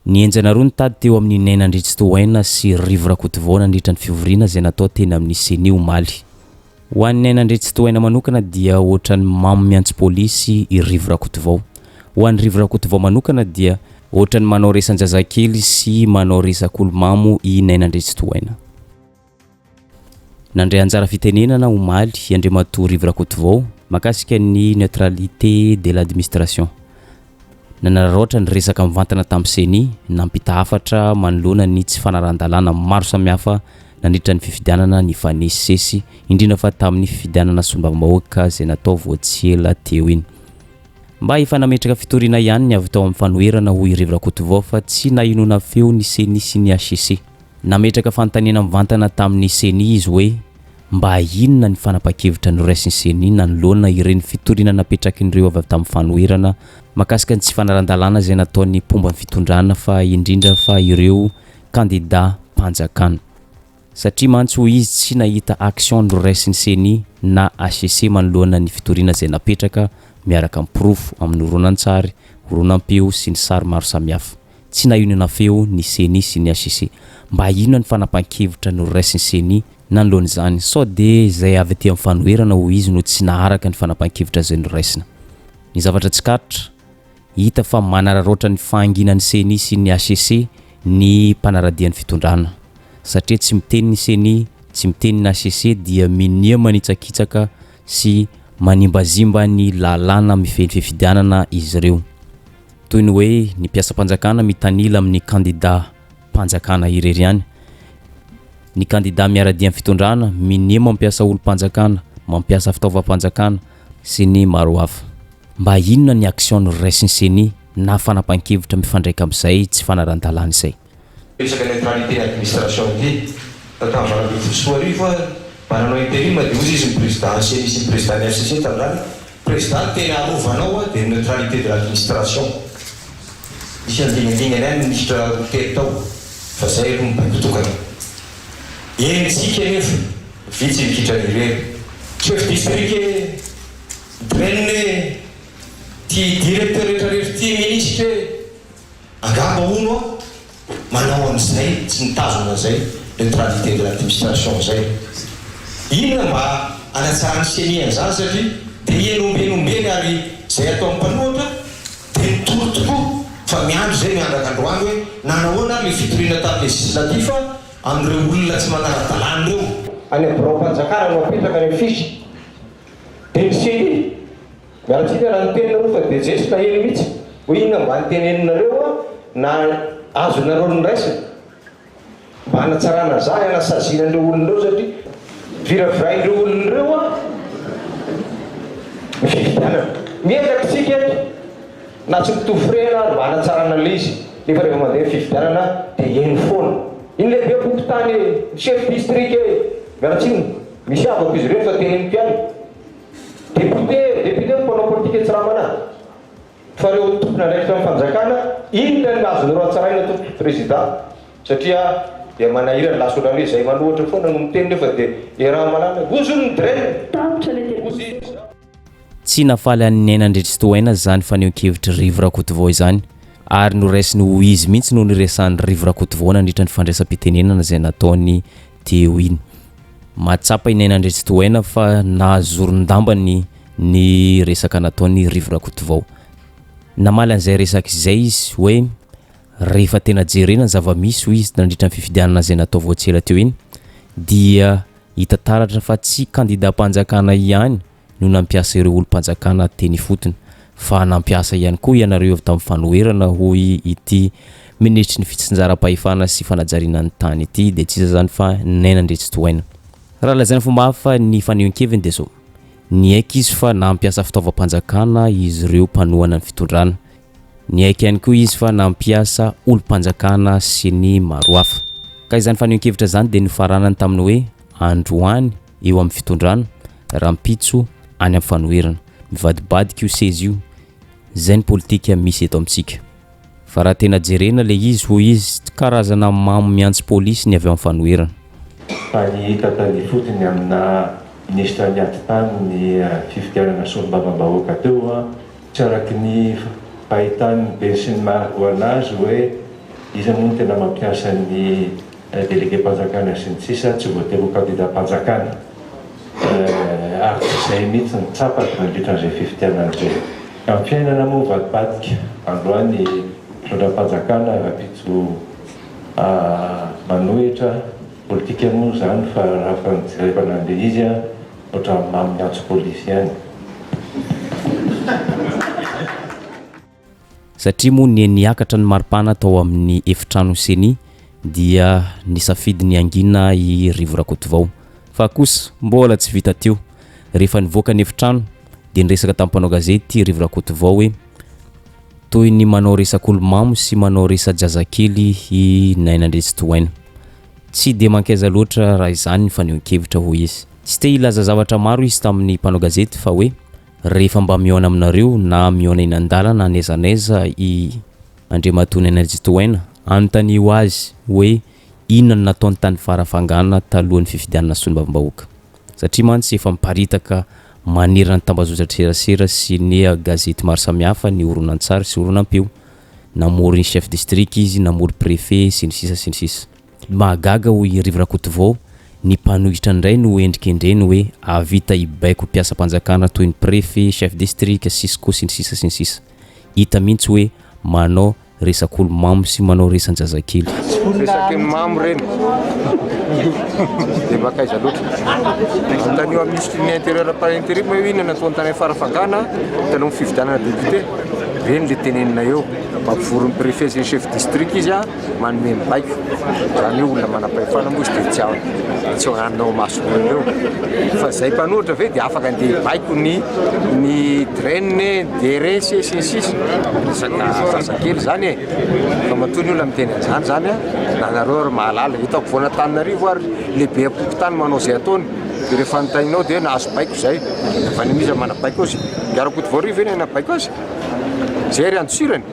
Nihenjana roa ny tady teo amin'i Neny Andriantsitohaina sy Rivo Rakotovao nandritra ny fivoriana izay natao teny amin'ny Ceni omaly. Ho an'i Neny Andriantsitohaina manokana dia ohatran'ny mamo miantso polisy i Rivo Rakotovao. Ho an'i Rivo Rakotovao manokana dia ohatran'ny manao resan-jazakely sy manao resak'olo-mamo i Neny Andriantsitohaina. Nandray anjara fitenenana omaly Andriamatoa Rivo Rakotovao mahakasika ny neutralité de l'administration. Nanararaotra ny resaka mivantana tamin'ny Ceni, nampita hafatra manoloana ny tsy fanarahan-dalàna maro samihafa nandritra ny fifidianana nifanesisesy, indrindra fa tamin'ny fifidianana solombavambahoaka izay natao vao tsy ela teo iny. Mba efa nametraka fitoriana ihany ny avy tao amin'ny fanoherana, hoy Rivo Rakotovao, fa tsy nahenoana feo ny Ceni sy ny hcc. Nametraka fanontaniana mivantana tamin'ny Ceni izy hoe mba inona ny fanapan-kevitra noraisin'ny Ceni nanoloana ireny fitoriana napetrakin'ireo avy avy tamin'ny fanoherana mahakasika ny tsy fanaran-dalàna izay nataon'ny mpomba ny fitondrana fa indrindra fa ireo kandidam-panjakana. Satria mantsy hoy izy tsy nahita action noraisin'ny Ceni na HCC manoloana ny fitoriana izay napetraka miaraka amin'ny porofo amin'ny horonantsary, horonam-peo sy ny sary maro samihafa. Tsy nahionona feo ny Ceni sy ny HCC. Mba inona ny fanapahan-kevitra noraisin'ny Ceni nanoloan'izany? Sao dia izay avy aty amin'ny fanoherana hoy izy no tsy naharaka ny fanapahan-kevitra izay noraisina? Ny zavatra tsikaritra, hita fa manararaotra ny fahanginan'ny Ceni sy ny HCC ny mpanara-dia ny fitondrana. Satria tsy miteny ny Ceni, tsy miteny ny HCC dia minia manitsakitsaka sy manimbazimba ny lalàna mifehy ny fifidianana izy ireo. toy ny hoe ny mpiasam-panjakana mitanila amin'ny kandidam-panjakana irery ihany. Ny kandidà miara-dia amin'ny fitondrana minia mampiasa olom-panjakana, mampiasa fitaovam-panjakana sy ny maro hafa. Mba inona ny action noraisin'ny ceni na fanapahan-kevitra mifandraika amin'izay tsy fanarahn-dalàna izay? Resaka neutralité administration ity. Raha tamin'ny valo ambin'ny folo sy roa arivo ary mba nanao interim dia hozy izy ny prezida ny ceni sy ny prezida ny hcc tamin'izany, prezida no tena arovanao an dia ny neutralité de l'administration. Nisy andingadingana ihany ny minisitra roa telo tao fa zay aloha ny boky tokana. Eny tsika anefa vitsy ny kitran irery chef district e, dren e, ty directeur retraretra ty minisitra e. Angamba hono aho manao an'izay tsy mitazona izay neutralité de l'administration izay. Inona mba hanatsarany ceni an'izany satria dia heno omby heno omby eny ary izay ataon'ny mpanohatra dia mitory tokoa fa miandry izay miandraka androany hoe nanahoana ary ilay fitoriana tany législatif amin'ireo olona tsy manara-dalàna ireo. Any amin'ny biraom-panjakana no apetraka ilay fiche dia ny ceni. Miaratsika raha ny teninareo fa dia Jeso naheno mitsy hoe inona mba ny teneninareo na azonareo nraisina mba hanatsarana za hanasaziana an'ireo olona ireo satria viravirain'ireo olona ireo ny fifidianana. Miezaka isika eto na tsy mitovy firehana ary mba hanatsarana ilay izy nefa rehefa mandeha ny fifidianana dia heno foana iny lehibe pompotany e, ny chef district e, miaratsiny misy havako izy ireny fa teneniko ihany. Député, député no mpanao politika etsy Ramana fa reo tompon'andraikitra ny fanjakana inona no azony horatsaraina tompoko Président satria dia manahirana lasa otrany hoe zay manohatra foana no miteny nefa dia errant malalany hozy hono ny Dren. Tapitra le député ko. Tsy nafaly an'i Neny Andriatsitohaina izany fanehoan-kevitr'i Rivo Rakotovao izany ary noraisiny ho izy mihitsy no niresahan'i Rivo Rakotovao nandritra ny fandraisam-pitenenana izay nataony dia eo iny. Mahatsapa i Naina Andriantsitohaina fa nahazoron-dambany ny resaka nataon'i Rivo Rakotovao. Namaly an'izay resaka izay izy hoe rehefa tena jerena ny zava-misy, hoy izy, nandritra ny fifidianana izay natao vao tsy ela teo iny, dia hita taratra fa tsy kandidàm-panjakana ihany no nampiasa ireo olom-panjakana teny ifotony fa nampiasa ihany koa ianareo avy tamin'ny fanoherana hoy ity minisitry ny fitsinjaram-pahefana sy fanajariana ny tany ity dia tsy iza izany fa Naina Andriantsitohaina. Raha lazaina fomba hafa ny fanehoan-keviny dia izao, niaiky izy fa nampiasa fitaovam-panjakana izy ireo mpanohana ny fitondrana, niaiky ihany koa izy fa nampiasa olom-panjakana sy ny maro hafa. Ka izany fanehoan-kevitra izany dia nofaranany tamin'ny hoe androany, eo amin'ny fitondrana, rahampitso any amin'ny fanoherana. Mivadibadika io seza io, izay ny politika misy eto amintsika. Fa raha tena jerena ilay izy, hoy izy, tsy karazana mamo mihantsy polisy ny avy ao amin'ny fanoherana. Fa ny hita tao ifotony aminà minisitra niady tamin'ny fifidianana solombavambahoaka teo, tsy araky ny fahitan'ny beny sy ny maro ho an'azy hoe iza moa no tena mampiasa ny Delegem-panjakana sy ny sisa Tsy voatery ho kandidam-panjakana ary tsy izay mihitsy no tsapako nandritra an'izay fifidianana izay. Amin'ny fiainana moa mivadibadika, androany fitondram-panjakana rahampitso manohitra, politika moa izany fa raha fa ny jerevana an'ilay izy ohatran'ny mamin'ny antso polisy ihany. Satria moa ny niakatra ny maripana tao amin'ny efitrano Ceni dia nisafidy ny hangina i Rivo Rakotovao. Fa kosa mbola tsy vita teo, rehefa nivoaka ny efitrano dia niresaka tamin'ny mpanao gazety Rivo Rakotovao hoe toy ny manao resak'olo-mamo sy manao resa-jazakely i Naina Andriantsitohaina. Tsy dia mankaiza loatra raha izany ny fanehoan-kevitra, hoy izy. Tsy te hilaza zavatra maro izy tamin'ny mpanao gazety fa hoe Rehefa mba mihaona aminareo na mihaona eny an-dalana n'aiza n'aiza i Andriamatoa Nenerjy Tohaina, anontanio azy hoe inona no nataony tany Farafangana talohan'ny fifidianana solombavambahoaka. Satria mantsy efa miparitaka manerana ny tambazotran-tserasera sy ny gazety maro samihafa ny horonantsary sy horonam-peo. Namory ny chef district izy, namory prefet sy ny sisa sy ny sisa. Mahagaga hoy i Rivo Rakotovao, ny mpanohitra indray no hendrikendreny hoe hahavita hibaiko mpiasam-panjakana toy ny prefet, chef district, cisco sy ny sisa sy ny sisa. Hita mihitsy hoe manao resak'olo mamo sy manao resan-jazakely. Resak'olo mamo ireny dia mankaiza loatra? Anontanio amin'ny minisitry ny intérieur par interim hoe inona no ataony tany amin'ny Farafangana taloha ny fifidianana député? Ireny ilay teneninay eo. Mampivory ny prefet sy ny chef district izy an! Manome ny baiko, izany hoe olona manam-pahefana moa izy dia tsy ao, tsy hohanina ao imason'olona eo. Fa izay mpanohitra ve dia afaka andeha hibaiko ny ny draine, DRS, sy ny sisa? Resaka zazakely izany e! Fa matoa ny olona miteny an'izany izany an! Na nareo ary mahalala, eto ampovoan'Antananarivo ary lehibe am-pokontany manao izay ataony, dia rehefa notaininao dia hoe nahazo baiko izay. Avy any amin'iza no manam-baiko azy? Dia Rakotovao Rivo ve no hay nahabaiko azy? Izay ary andosirany?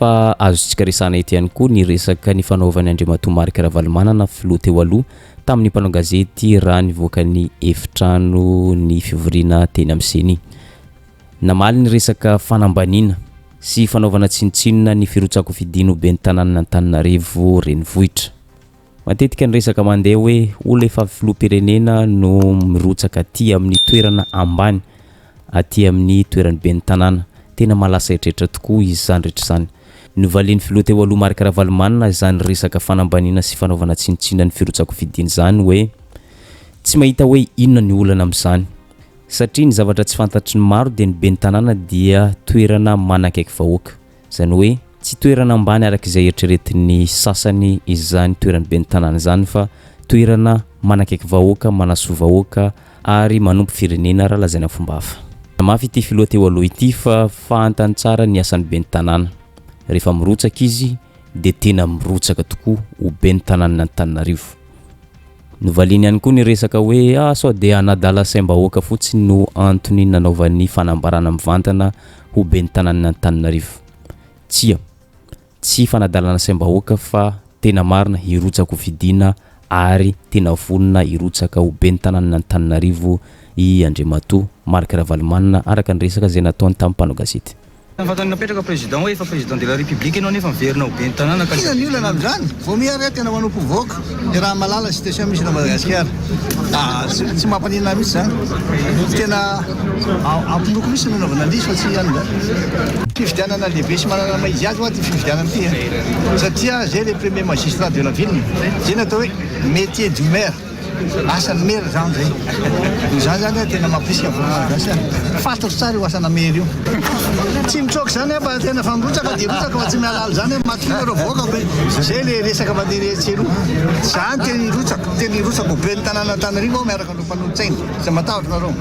Fa azontsika resahana eto ihany koa ny resaka nifanaovan'i Andriamatoa Marc Ravalomanana, filoha teo aloha, tamin'ny mpanao gazety raha nivoaka ny efitrano ny fivoriana teny amin'ny Ceni. Namaly ny resaka fanambaniana sy fanaovana tsinontsinona ny firotsakofidin'ny ho ben'ny tanànan'Antananarivo renivohitra. Matetika ny resaka mandeha hoe olona efa filoham-pirenena no mirotsaka aty amin'ny toerana ambany, aty amin'ny toeran'ny ben'ny tanàna. Tena mahalasa eritreritra tokoa izany rehetra izany. Novalian'ny filoha teo aloha Marc Ravalomanana izany resaka fanambaniana sy fanaovana tsinontsinona ny firotsakofidiana izany hoe tsy mahita hoe inona ny olana amin'izany satria ny zavatra tsy fantatry ny maro dia ny ben'ny tanàna dia toerana manakaiky vahoaka. Izany hoe tsy toerana ambany araka izay eritreretin'ny sasany izany toeran'ny ben'ny tanàna izany fa toerana manakaiky vahoaka, manasoa vahoaka ary manompo firenena raha lazaina fomba hafa. Namafy ity filoha teo aloha ity fa fantany tsara ny asan'ny ben'ny tanàna. Rehefa mirotsaka izy dia tena mirotsaka tokoa ho ben'ny tanànan'Antananarivo. Novaliany ihany koa ny resaka hoe ah sao dia hanadala saim-bahoaka fotsiny no antony nanaovany fanambarana mivantana ho ben'ny tanànan'Antananarivo. Tsia, tsy fanadalana saim-bahoaka fa tena marina hirotsaka ho fidiana ary tena vonona hirotsaka ho ben'ny tanànan'Antananarivo i Andriamatoa Marc Ravalomanana araka ny resaka izay nataony tamin'ny mpanao gazety. Ny vantany napetraka président hoe efa président de la république enao nefa miverina ho ben'ny tanàna ka Inona ny olana amin'izany? Vao miha re tena manompo vahoaka ny raha malala sy tension misy eto Madagasikara. Tsy tsy mampaninona ahy mihitsy izany. Tena ampinoako mihitsy ny nanaovana an'ilay izy fa tsy an'izany. Fifidianana lehibe sy manana ny maha izy azy hoa ity fifidianana ity e. Satria zay le premier magistrat de la ville, zay ny atao hoe métier du maire. Asan'ny maire zany zay. Dia za zany a tena mampirisika vahoaka malagasy a. Fantatro tsara io asana maire io. Tsy mitsoaka izany fa tena fa mirotsaka dia mirotsaka fa tsy mihalala izany hoe matokia nareo vahoaka be. Zay le resaka mandeha etsy sy eroa. Za no tena hirotsaka, tena hirotsaka ho ben'ny tanànan'Antananarivo aho miaraka amin'ireo mpanolotsaina. Aza matahotra nareo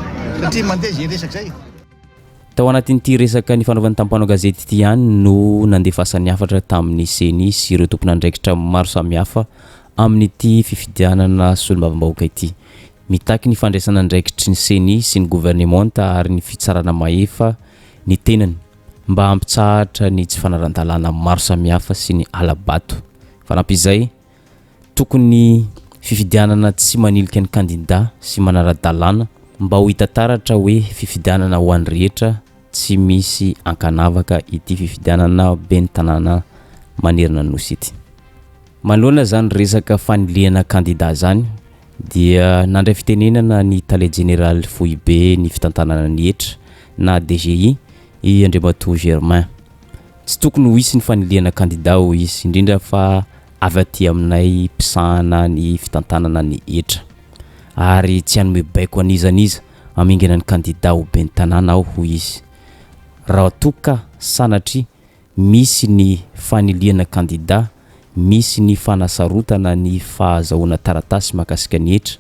satria mandeha izay resaka izay. Tao anatin'ity resaka nifanaovan'ny tampanao gazety ity ihany no nandefasan'ny hafatra tamin'ny ceni sy ireo tompon'andraikitra maro samihafa amin'ity fifidianana solombavambahoaka ity. Mitaky ny fandraisana andraikitry ny ceni sy ny governemanta ary ny fitsarana mahefa ny tenany mba hampitsahatra ny tsy fanarandalana maro samihafa sy ny hala-bato. Fanampin'izay, Tokony fifidianana tsy manilika ny kandida sy manara-dalàna mba ho hita taratra hoe fifidianana ho an'ny rehetra tsy misy ankanavaka ity fifidianana ben'ny tanàna manerana ny Nosy ity. Manoloana izany resaka fanilihana kandida izany dia nandray fitenenana ny tale jeneraly foibe ny fitantanana ny hetra na DGI i Andriamatoa Germain. tsy tokony ho hisy ny fanilihana kandida hoy izy, indrindra fa avy aty aminay mpisahana ny fitantanana ny hetra ary tsy hanome baiko an'iza n'iza hamingana ny kandida ho ben'ny tanàna aho hoy izy. Raha toa ka sanatria misy ny fanilihana kandida, misy ny fanasarotana ny fahazahoana taratasy mahakasika ny hetra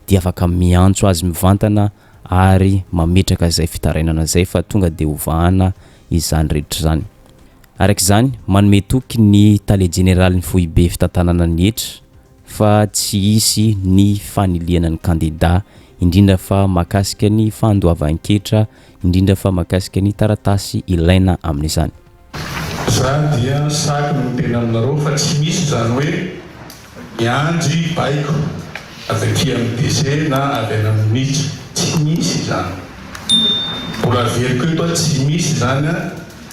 dia afaka miantso azy mivantana ary mametraka izay fitarainana izay fa tonga dia hovahana izany rehetra izany. Araka izany, manome toky ny Tale Jeneralin'ny Foibe Fitantanana ny hetra fa tsy hisy ny fanilihana ny kandidà, indrindra fa mahakasika ny fandoavan-ketra, indrindra fa mahakasika ny taratasy ilaina amin'izany. Za dia saky ny miteny aminareo fa tsy misy izany hoe miandry baiko avy aty amin'ny DC na avy any amin'ny Minisitra, tsy misy izany. Mbola averiko eto a, tsy misy izany a,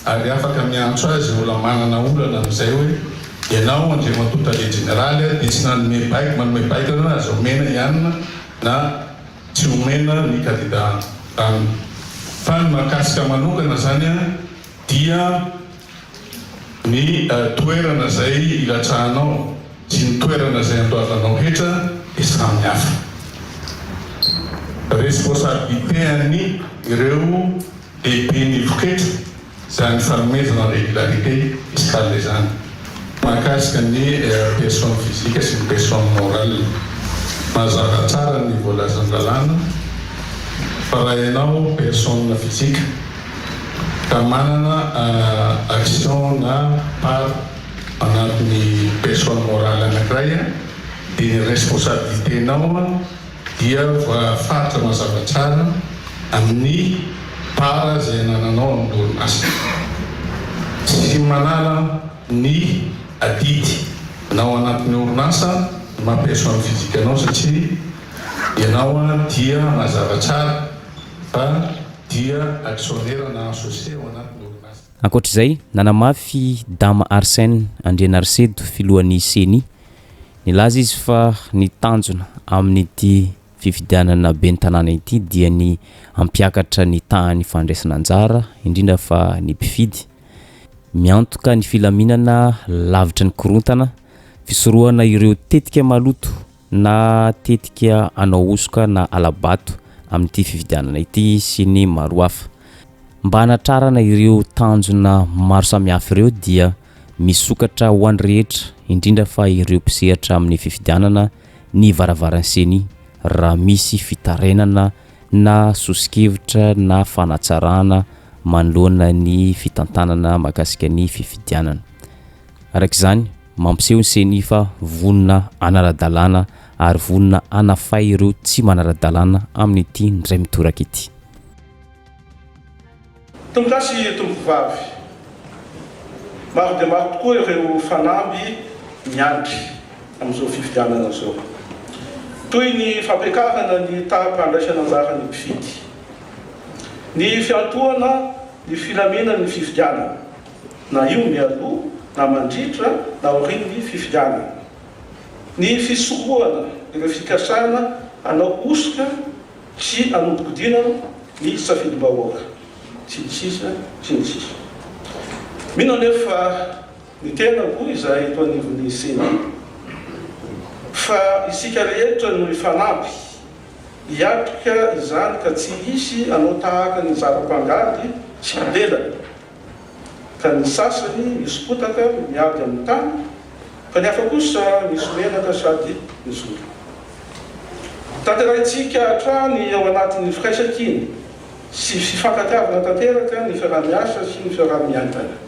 ary afaka miantso azy mbola manana olana amin'izay hoe ianao Andriamatoa Tale Jeneraly a, dia tsy nanome baiko, manome baiko anareo aza omena ihany na tsy omena ny kandida an, fa ny mahakasika manokana izany a, dia ny toerana izay ilatsahanao sy ny toerana izay andoavanao hetra dia samy hafa. Responsabilité an'ny ireo lehiben'ny voketra izany fanomezana en régularité fiscale izany mahakasika ny personne physique sy ny personne morale. Mazava tsara ny voalazan'ny lalàna fa raha ianao personne physique, Raha manana action na part anaty ny personne morale anankiray dia ny responsabilité nao dia voafaritra mazava tsara amin'ny part izay anananao amin'ny orinasa. Tsy manala ny adidy nao anaty ny orinasa ny maha personne physique anao satria ianao dia mazava tsara. Fa dia actionnaire na associé ao anatin'ny orinasa. Ankoatra izay, nanamafy Dama Arsène Andrianarisedo, filohan'ny Ceni. Nilaza izy fa ny tanjona amin'ity fifidianana ben'ny tanàna ity dia ny hampiakatra ny tahan'ny fandraisana anjara, indrindra fa ny mpifidy. Miantoka ny filaminana lavitry ny korontana, fisorohana ireo tetika maloto na tetika hanao hosoka na hala-bato amin'ity fifidianana ity sy ny maro hafa. Mba hanatrarana ireo tanjona maro samihafa ireo dia misokatra ho an'ny rehetra, indrindra fa ireo mpisehatra amin'ny fifidianana ny varavaran'ny Ceni raha misy fitarainana na soso-kevitra na fanatsarana manoloana ny fitantanana mahakasika ny fifidianana. Araka izany. Mampiseho ny Ceni fa vonona hanara-dalàna ary vonona hanafay ireo tsy manara-dalàna amin'ity indray mitoraka ity. Tompokasy Tompovavy. Maro dia maro tokoa ireo fanamby miandry amin'izao fifidianana izao. Toy ny fampiakarana ny taham-pandraisana anjaran'ny mpifidy, ny fiantohana ny filaminan'ny fifidianana. na io mialoha na mandritra na aorian'ny fifidianana. Ny fisorohana ireo fikasana hanao hosoka sy hanodikodina ny safidim-bahoaka, sy ny sisa sy ny sisa. Mino anefa fa ny tenako izay eto anivon'ny ceni fa isika rehetra no hifanampy hiatrika izany ka tsy hisy hanao tahaka ny zara-pangady sy mpibelany ka ny sasany misy potaka miady amin'ny tany, ka ny hafa kosa misy menaka sady mijoro. Tanterahintsika hatrany ao anatin'ny firaisankina sy fifankatiavana tanteraka ny fiaraha-miasa sy ny fiaraha-miainana.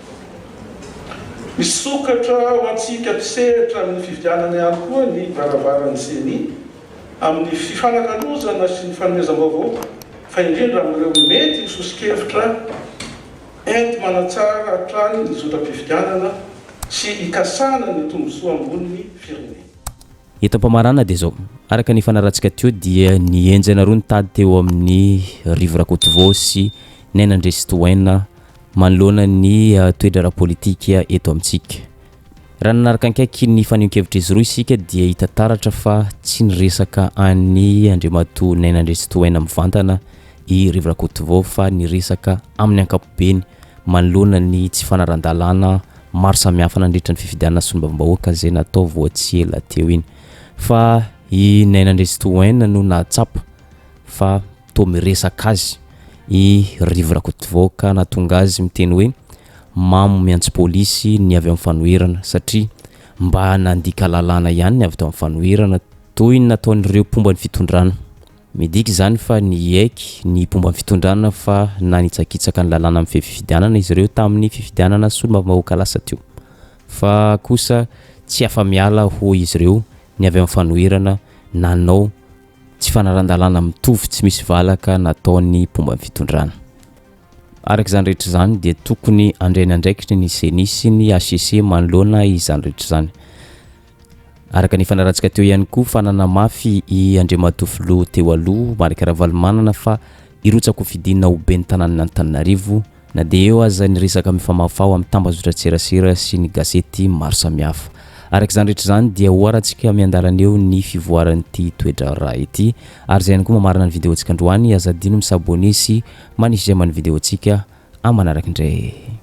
Misokatra ho antsika mpisehatra amin'ny fividianana ihany koa ny varavaran'ny Ceni. amin'ny fifanakalozana sy ny fanomezam-baovao fa indrindra amin'ireo mety ho soso-kevitra enti-manatsara hatrany ny zotram-pifidianana sy hikasana ny tombontsoa ambonin'ny firenena. Eto am-pamarana dia izao, araka ny fanarahantsika teo dia ny henjana roa nitady teo amin'ny Rivo Rakotovao sy Naina Andriatsitohaina manoloana ny toe-draharaha politika eto amintsika. Raha nanaraka akaiky ny fanehoan-kevitr'izy roa isika dia hita taratra fa tsy niresaka an'i Andriamatoa Naina Andriantsitohaina mivantana i Rivo Rakotovao fa niresaka amin'ny ankapobeny manoloana ny tsy fanarahndalàna maro samihafa nandritra ny fifidianana solombavambahoaka izay natao vao tsy ela teo iny fa i Naina Andriantsitohaina no nahatsapa fa Toa miresaka azy i Rivo Rakotovao ka nahatonga azy miteny hoe mamo miantso polisy ny avy amin'ny fanoherana satria mba nandika lalàna ihany ny avy tao amin'ny fanoherana toy ny nataon'ireo mpomba ny fitondrana. Midika izany fa niaiky ny mpomba ny fitondrana fa nanitsakitsaka ny lalàna mifehy fifidianana izy ireo tamin'ny fifidianana solombavambahoaka lasa teo fa kosa tsy afa-miala hoy izy ireo ny avy amin'ny fanoherana nanao Tsy fanaran-dalàna mitovy tsy misy valaka nataon'ny mpomba ny fitondrana. Araka izany rehetra izany dia tokony handray ny andraikitry ny ceni sy ny HCC manoloana izany rehetra izany. Araka ny fanaratsika teo ihany koa fa nanamafy i Andriamatoa Filoha teo aloha Marc Ravalomanana fa hirotsakofidina ho ben'ny tanànan'Antananarivo Na dia eo aza ny resaka mifamafa ao amin'ny tambazotran-tserasera sy ny gazety maro samihafa. Araka izany rehetra izany dia oharantsika miandalana eo ny fivoaran'ity toe-draharaha ity. Ary izay ihany koa mamarana ny videontsika androany, aza adino mi s'abonner sy manisy j'aime ny videontsika. Amin'ny manaraka indray.